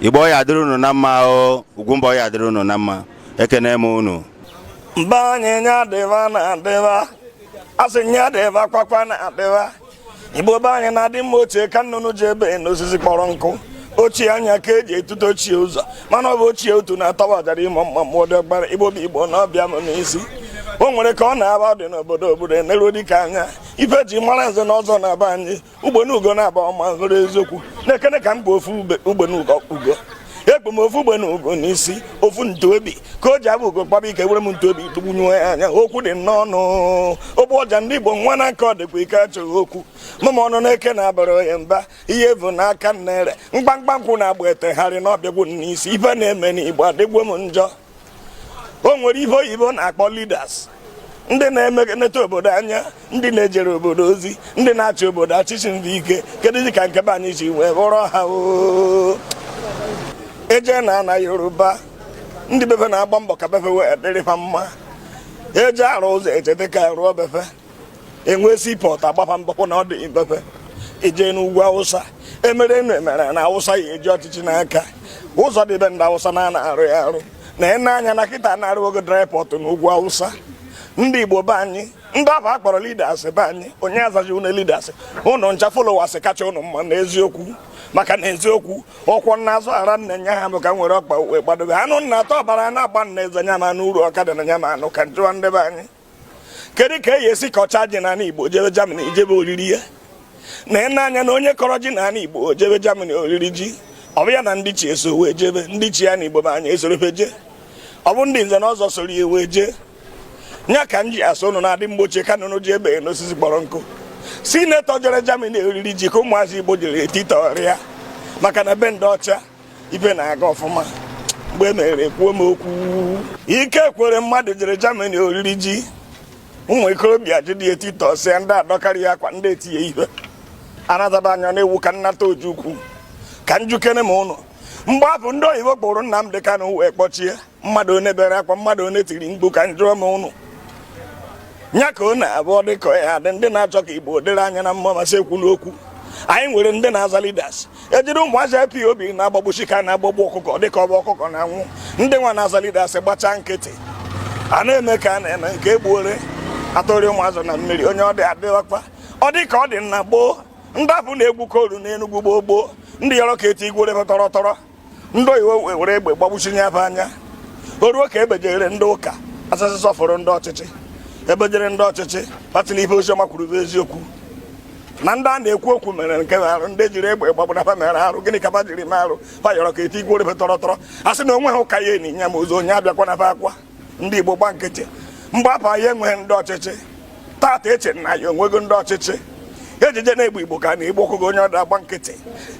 igbo ya dịrị unu na mma o ugwumba ya dịrị unu na mma ekene m unu mba anyị nya dịba na adịba asị nya dịba kwakwa na adịba igbo be anyị na-adị mma ochie ka nnụnụ ji ebe n'osisi kpọrọ nkụ ochie anya ka eji etute ochie ụzọ mana ọ bụ ochie otu na-atọwa ọjara ịmụ mma mmụọ dị ọgbara igbo bụ igbo na ọbịa m n'isi o nwere ka ọ na-aba dị n'obodo obodo eneruo dike anya ife e ji mara nze na ọzọ na be anyị ugbene ugo na-aba ọma hụrụ eziokwu nekene ka m bu ofu ugbene ugo ekpu m ofu ugbene ugo n'isi ofu ntu obi ka o ji abụ ugo kpaba ike were m ntu obi tụgbunye anya okwu dị n'ọnụ ogbu ọja ndị Igbo nwa na aka ọ dịkwa ike achọghị okwu mama ọnụ na-eke na-abara onye mba ihe bụ n'aka nnere mkpamkpa nkwụ na-agba etegharị n'ọbịagwu n'isi ife na-eme n'Igbo adịgo m njọ o nwere ife oyibo na-akpọ leaders ndị na-eneneta obodo anya ndị na-ejere obodo ozi ndị na-achị obodo achịchị ndị ike keduzi ka nke be anyị si wee bụrụ ha eje na ana yoruba ndị be fa na-agba mbọ ka be fa wee dịrị ha mma eje arụ ụzọ echeta ka a rụọ be fa enwe seaport agbaba mbọ fụ na ọ dị be fa eje n'ugwu awụsa emere enu emere ana awụsa ya-eji ọchịchị n'aka ụzọ dị be ndị awụsa na a na-arụ ya arụ na ene anya na kịta na arụọgo dry port n'ugwu awụsa ndị igbo be anyị ndị afụ akpọrọ leaders be anyị onye azaji ụnụ leaders ụnụ ncha followers kacha ụnụ mma na eziokwu maka na eziokwu ọkwọ n'azụ ara nne nya ha bụ ka nwere ọkpa wee gbadobe anụ nna atọ ọbara na-agba n'eze nya ma anụ uru ọka dị na nya ma anụ ka njụwa ndị be anyị kedu ka e esi kọcha ji n'ala Igbo jebe Germany jebe oriri ya na ene anya na onye kọrọ ji n'ala Igbo jebe Germany oriri ji ọ bụ ya na ndị ichie so wee jebe ndị ichie ana Igbo be anyị esoro fa je ọ bụ ndị nze na ọzọ soro ya wee jee nya ka m ji asị ụnụ na-adị mgbe ochie ka nnụnụ ji ebe n'osisi kpọrọ nkụ senator jere Germany oriri ji ka ụmụazị Igbo jere etitọrịa maka na be ndị ọcha ife na-aga ọfụma mgbe e mere ekwuo m okwu Ike Ekweremadu jere Germany oriri ji ụmụ ikorobịa jide ya titọsịa ndị adọkarị ya akwa ndị etie ya ihe anataba anya na-ewu ka nnata Ojukwu ka njụkene m ụnụ mgbe afụ ndị oyibo kpụrụ Nnamdi Kanu wee kpọchie mmadụ one bere akwa mmadụ one tiri mkpu ka njụọ m ụnụ nya ka ọ na-abụ ọ dị ka ya dị ndị na-achọ ka igbo dịrị anyị na mma na-asị ekwuna okwu anyị nwere ndị na-aza leaders ejiri ụmụazị IPOB na-agbagbusi ka a na-agbagbu ọkụkọ dịka ọ bụ ọkụkọ na-anwụ ndị nwa na-aza leaders gbachaa nkịtị a na-eme ka a na-eme nke egburu atụọrọ ụmụ azụ na mmiri onye ọ dị adịghịkwa ọ dị ka ọ dị na gboo ndị afụ na-egbu coal n'Enugwu gboo gboo ndị yọrọ ka etinyere tọrọ tọrọ ndị oyibo were egbe gbagbusie ndị be anyị o ruo ka e bejere ndị ụka asasị sọfụrụ ndị ọchịchị e bejere ndị ọchịchị ba sị na ife oziọma kwuru bụ eziokwu na ndị a na-ekwu okwu mere nke arụ ndị jiri egbe gbagbuo na ba mere arụ gịnị ka ba jiri mee arụ ba yọrọ ka eti igwe orebe tọrọ tọrọ a sị na o nweha ụka ya-eni ya ma ozu onye abịakwana akwa ndị Igbo gba nkịtị mgbe afụ anyị enweghị ndị ọchịchị tata e chee na anyị enwego ndị ọchịchị ejije na-egbu igbo ka a na-egbu ọkụkọ onye ọda agba nkịtị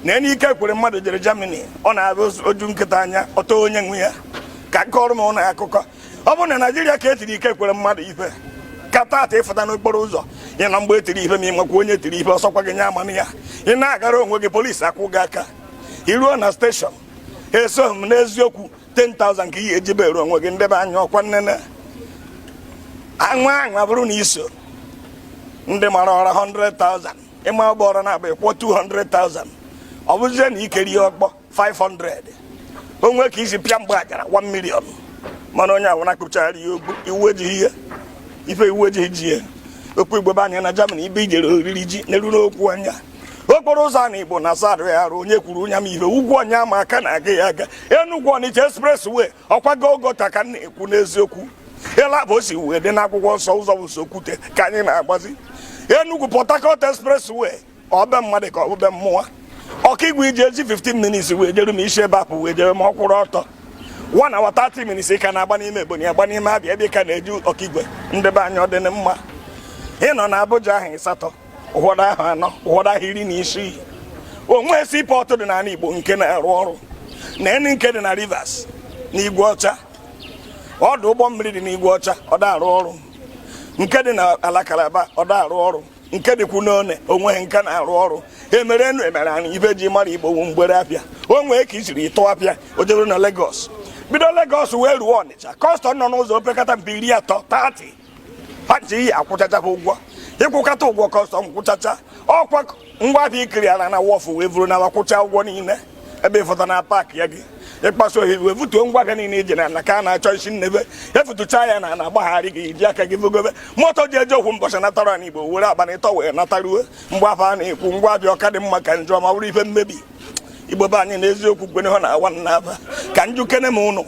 na enye Ike Ekweremadu jere Germany ọ na-abụ o ju nkịta anya ọ taa onye nwe ya ka m kọọrọ ụnụ akụkọ ọ bụrụ na Naịjirịa ka e tiri Ike Ekweremadu ife ka tata ị fụta n'okporo ụzọ ị ma mgbe e tiri ife ma ị makwa onye tiri ife ọ sọkwa gị nye amana ya ị na-agara onwe gị polisi akwụ gị aka i ruo na steshọn eso m n'eziokwu 10,000 ka ị ga-eji bail onwe gị ndị be anyị ọkwa nnene anwa anwa bụrụ na i so ndị mara ụra 100,000 ị maa ụgbọrọ naabọ ị kwụọ 200,000 ọ bụzie na i kụrụ ya ọkpọ 500 o nwee ka i si pịa mgbe ajara 1 million mana onye ọwụna akpụchara ya ogbu iwu ejighị ihe ife iwu ejighị ji ya okwu Igbo be anyị na Germany ebe e jere oriri ji n'elu n'okwu anya okporo ụzọ ana Igbo na azadụ ya arụ onye kwuru onye m ihe ugwu onye ama aka na-aga ya aga enugwu ọnịcha expressway ọkwago ogota ka m na-ekwu n'eziokwu ịla bụ o si wee dị n'akwụkwọ nsọ ụzọ bụ sokwute ka anyị na-agbazi enugwu port harcourt expressway ọ bụ be mmadụ ka ọ bụ be mmụọ Okigwe e ji eji 15 minutes wee jeruo ma i si ebe afụ wee jeruo ma ọ kwụrụ ọtọ one hour 30 minutes ka a na-agba n'ime ebonyi agba n'ime abịa ebe ka na-eji Okigwe ndị be anyị ọ dị mma ị nọ na Abuja ahụ ịsatọ ụfọdụ ahụ anọ ụfọdụ ahụ iri na isii o nwee seaport dị n'ala Igbo nke na-arụ ọrụ na eni nke dị na Rivers na Igwe Ọcha ọdụ ụgbọ mmiri dị n'Igwe Ọcha ọ da arụ ọrụ nke dị na ala Kalaba ọ da arụ ọrụ nke dịkwu n'Onne o nweghị nke na-arụ ọrụ e mere enu e mere anị ife e ji mara Igbo wụ mgbere afịa o nwee ka i siri tụọ afịa o jee bere na Lagos bido Lagos wee ruo Ọnịcha kọstọm nọ n'ụzọ opekata mpe iri atọ 30 pati ị ya-akwụchacha ha ụgwọ ị kwụkata ụgwọ kọstọm kwụchacha ọkwa ngwa ahịa i cleara na wharf wee vuru n'ala kwụcha ụgwọ niile ebe ịfọta na paakị ya gị ịkpaso ohere wee butuo ngwa ahịa niile iji na ka a na-achọ i si n'ebe e vutuchaa ya na na-agbagharị gị iji aka gị vugobe moto ji eje okwu mbọchị natara na igbo were abalị ịtọ wee nataruo mgbe afụ a na-ekwu ngwa afịa ọ ka dị mma ka njọ ma ọ bụrụ ife mmebi igbo be anyị na eziokwu kwene ha na awa na aba ka m jụkene ụnụ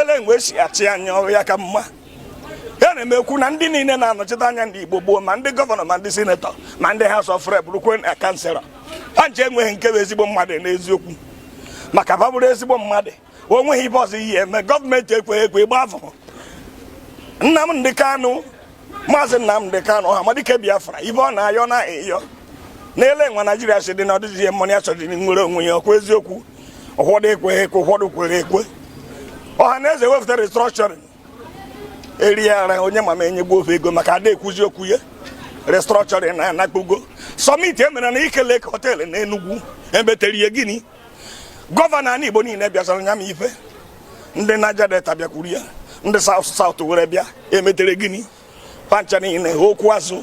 olee mgbe e si achị anyị ọrụ ya ka mma ana m ekwu na ndị niile na-anọchite anya ndị Igbo gboo ma ndị gọvanọ ma ndị sinetọ ma ndị House of Rep rukwe na kansịlọ ha ncha enweghị nke bụ ezigbo mmadụ n'eziokwu maka ba bụrụ ezigbo mmadụ o nweghị ife ọzọ ihe eme gọọmenti ekweghị ekwe ịgbahapụ Nnamdi Kanu maazị Nnamdi Kanu Ọhamadike Biafra ife ọ na-ayọ na-ayọ n'ele nwa Naijiria si dị na ọ dịzighị mma na ya chọrọ nwere onwe ya ọkwa eziokwu ụfọdụ ekweghị ekwe ụfọdụ kwere ekwe ọha na eze wepụta restructuring erie ara onye ma ma enyegwo va ego maka ada ekwuzi okwu ya restructuring anakpugo sọmit e mere na Nike Lake họteelụ na Enugu emetere ihe gịnị gọvanọ anị Igbo niile bịazara nya ma ife ndị Niger Delta bịakwuru ya ndị South South were bịa emetere gịnị fa ncha niile okwu azụ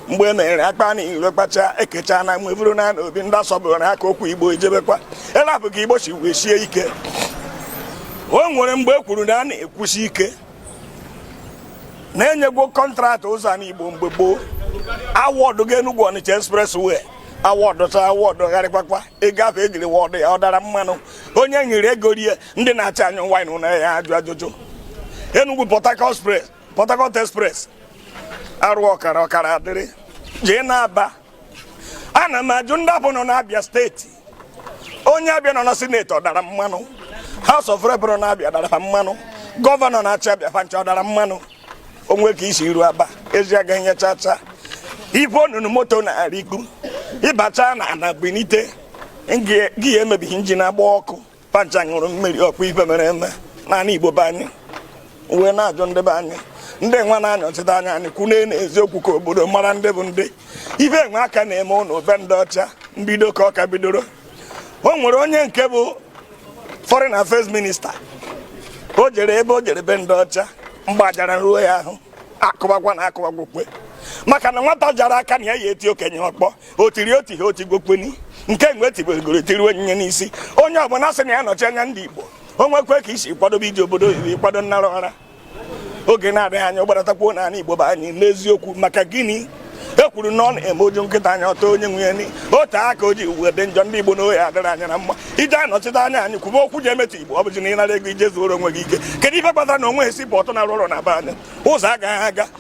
mgbe e mere akpa niile kpacha ekecha na mgbe bụrụ na obi ndị asọbụrụ aka okwu igbo ijebekwa ele ahụ ka igbo si wee sie ike o nwere mgbe e kwuru na a na-ekwusi ike na-enyegwo kọntraktị ụzọ a n'Igbo mgbe gboo awọdụ ga Enugu Ọnịcha expressway awọdụ ta awọdụ gharịkwakwa ego ahụ ejiri wọdụ ya ọ dara mmanụ onye e nyere ego rie ndị na-achị anyị o nwe onye ya-ajụ ajụjụ Enugu Port Harcourt Express Port Harcourt Express arụọ ọkara ọkara adịrị jee n'Aba ana m ajụ ndị ahụ nọ n'Abịa steeti onye Abịa nọ na sineti ọ dara mmanụ House of Rep nọ n'Abịa dara ha mmanụ gọvanọ na-achị Abịa fa ncha ọ dara mmanụ o nwe ka i si eru Aba ezi agaghị nye chacha ife onunu moto na-erikpu ịbacha n'ana binite gear emebie injin agba ọkụ fa ncha ṅụrụ mmiri ọkwa ife mere eme n'anị Igbo be anyị wee na-ajụ ndị be anyị ndị nwa na-anọchite anya anyị kwune na eziokwu ka obodo mara ndị bụ ndị ife nwa ka na-eme ụlọ be ndị ọcha mbido ka ọ ka bidoro o nwere onye nke bụ foreign affairs minista o jere ebe o jere be ndị ọcha mgbajara ruo ya ahụ akụbakwa na akụbakwa okwe maka na nwata jara aka na ya ya-eti okenye ọkpọ o tiri o tihe o tigokweni nke mgbe tibegoro etiriwe onyinye n'isi onye ọbụla sị na ya nọchi anya ndị Igbo o nwekwe ka i si kwadobe ije obodo oyibo ị kwado ịnara ụra oge na-adịghị anya ọgbaratakwa n'ala Igbo be anyị n'eziokwu maka gịnị e kwuru na ọ na-eme o ju nkịta anya ọ taa onye nwe ya na o te aka o ji wee dị njọ ndị Igbo na ọ ya-adịrị anyị na mma i je anọchite anya anyị kwube okwu ji emetụ Igbo ọ bụzi na ị nara ego i je zuoro onwe gị ike kedu ife kpatara na o nwe seaport na-arụ ọrụ na be anyị ụzọ agaghị aga